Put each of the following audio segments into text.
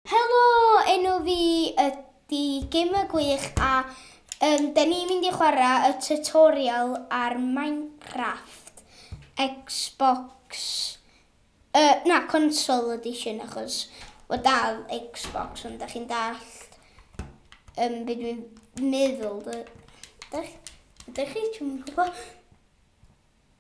Helo! Enw fi ydi Gamer Gwych a yym 'den ni'n mynd i chwara' y tutorial ar Minecraft Xbox yy na console edition achos ma' dal Xbox ond 'dach chi'n dallt yym be' dwi'n meddwl dy- dych- dych chi? Dwi'm yn gwbo.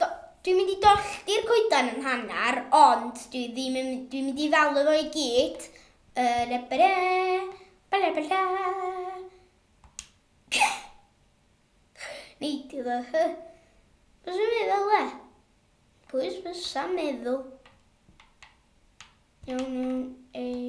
Do, dwi'n mynd i dollti'r coeden yn hanner, ond dwi ddim yn, dwi'n mynd i ddalu fo i gyd. Yn y bere, bala bala. Neidio ddo, hy. Os yw'n mynd fel le? Pwys fysa meddwl. Iawn, iawn, ei.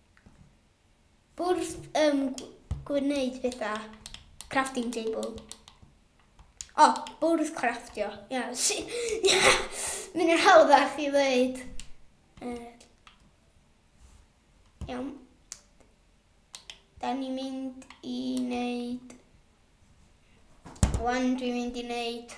Wrth um, gwneud pethau. Crafting table. O, oh, bwrdd craftio. Ia, si... Mynd i'r hawddach i ddweud. Uh, iawn. Da ni'n mynd i wneud... Wan dwi'n mynd i wneud...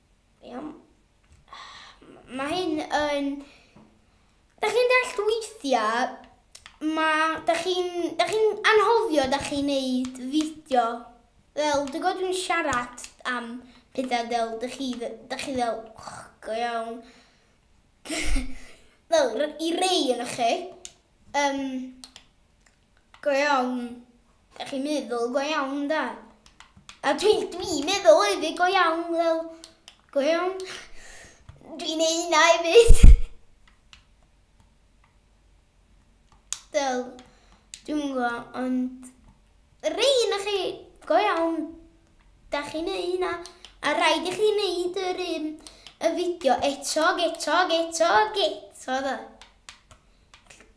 Iawn. Mae hyn yn... Da chi'n dall weithiau, mae... Da chi'n da chi anhofio, da chi'n neud fideo. Fel, dwi'n gwybod dwi'n siarad am pethau fel, da chi, da chi fel, oh, go iawn. fel, i rei yn chi. Um, Go iawn. Dach chi'n meddwl go iawn, da. A dwi, dwi'n meddwl hefyd go iawn, fel, go iawn. Dwi'n neud hynna hefyd. Del, dwi'n gwybod, ond... Rhain na chi, go iawn, da chi'n neud hynna. A rhaid i chi neud yr un y fideo eto, geto, geto, geto, da.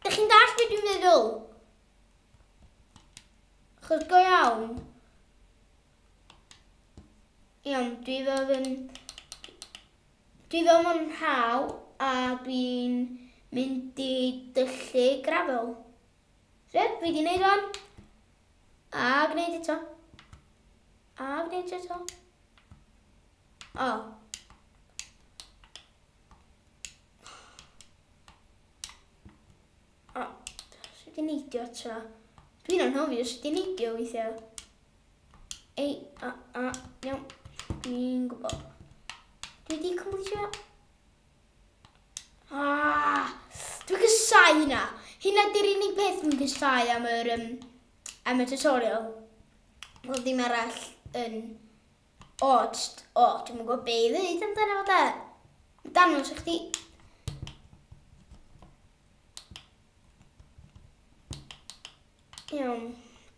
Ydych chi'n dallt beth dwi'n meddwl? Chos go iawn. Iawn, dwi fel yn... Dwi fel yn rhaw a dwi'n mynd i dyllu grafel. Fe, fi di wneud o'n. A gwneud eto. A gwneud eto. O. O, sut i neidio eto. Dwi'n anhofio sut i neidio weithiau. Ei, a, a, iawn. Dwi'n gwybod. Dwi wedi cymwytio. Ah, dwi'n gysau hynna. Hynna di'r unig beth dwi'n gysau am yr, um, am y tutorial. Wel, ddim arall yn O, jyst, o, dwi'm yn gwybod be i ddeud amdano fo de. Dangos i chdi. Iawn,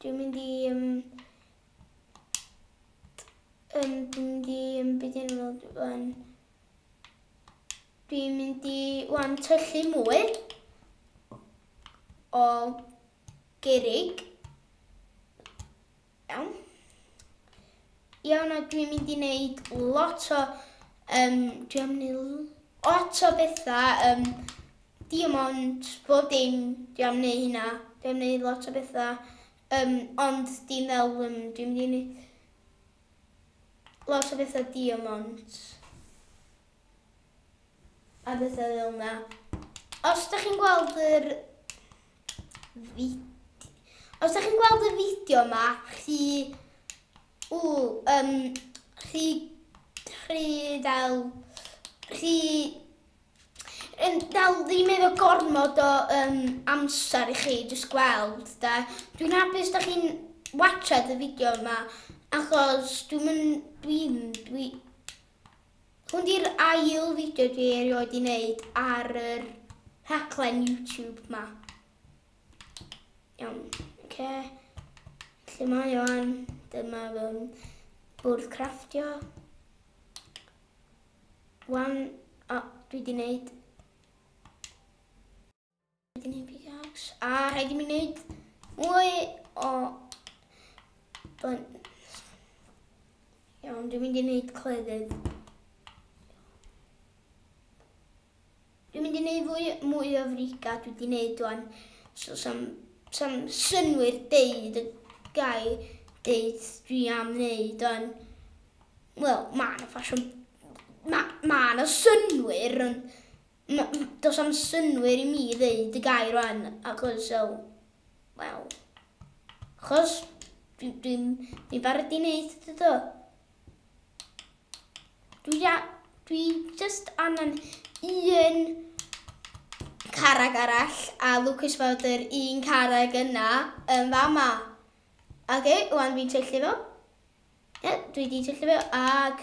dwi'n mynd i... Um, um, dwi'n mynd i... Um, beth i'n fod yn... Dwi'n mynd i... Wan, tyllu mwy o gerig. Iawn. Iawn, a dwi'n mynd i wneud lot o... Um, dwi am wneud lot o bethau. Um, diamond, bob dim, dwi am wneud hynna. Dwi am wneud lot o bethau. Um, ond dim fel, um, dwi'n mynd i wneud lot o bethau diamond. a bethau fel yna. Os da chi'n gweld yr Os da chi'n gweld y fideo yma, chi... Ww, um, chi... Chi dal... Chi... Yn dal ddim efo gormod o um, amser i chi jyst gweld, da. Dwi'n hapus da chi'n watchad y fideo yma, achos dwi'n... Dwi'n... Dwi'n... Hwn di'r ail fideo dwi erioed di wneud ar yr rhaglen YouTube ma. Iawn, oce. Lle mae o an? Dyma fy bwrdd crafftio. Wan, o, dwi di wneud Rhaid i ni pickaxe. A rhaid i mi wneud mwy o... Iawn, dwi'n mynd i wneud cleddyf. Dwi'n mynd i wneud fwy, mwy o friga dwi wedi wneud o'n... So, sam, sam synwyr deud y gai deud dwi am wneud o'n... Wel, mae yna ffasiwn... Mae ma yna synwyr, ond Does am synwyr i mi ddeud y gair rwan, achos, wel, wel, achos dwi'n dwi, dwi barod i wneud dydo. Dwi, a, dwi just angen un carag arall a Lucas fod yr un carag yna yn fama. Ac e, wan fi'n tyllu fo. E, dwi wedi tyllu fo ac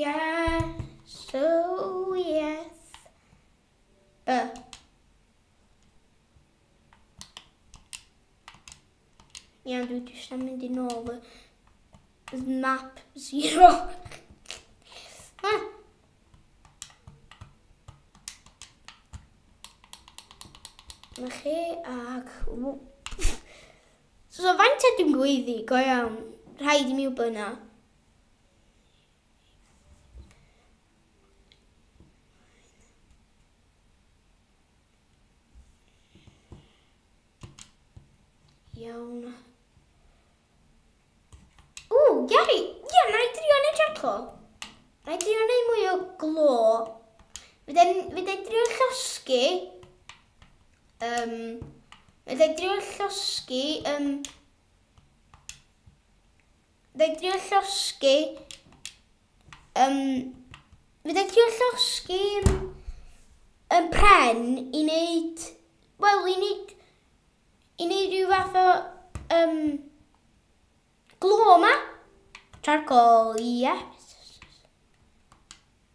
Iesu, yes. Uh. Iawn, dwi eisiau mynd i nôl y map zero. Na chi, ac... So, faint ydym gweiddi, go iawn. Rhaid i mi wybod yna. Iawn. O, Gary, ie, na i drio neud jaco. Na i drio neud mwy o glo. Fydda i drio llosgi... Um, fydda i drio llosgi... Um, Fe drio llosgi... Um, fe drio llosgi yn pren i wneud... Wel, i wneud... I wneud rhyw fath o... Um, glo yma. Charcoal, ie. Yeah.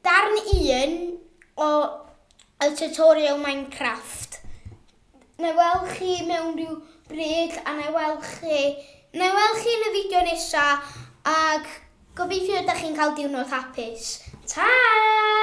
Darn 1 o y tutorial Minecraft. Nai weld chi mewn rhyw bryd a nai weld chi, nai weld chi yn y fideo nesa ac gobeithio ydach chi'n cael diwrnod hapus. Ta!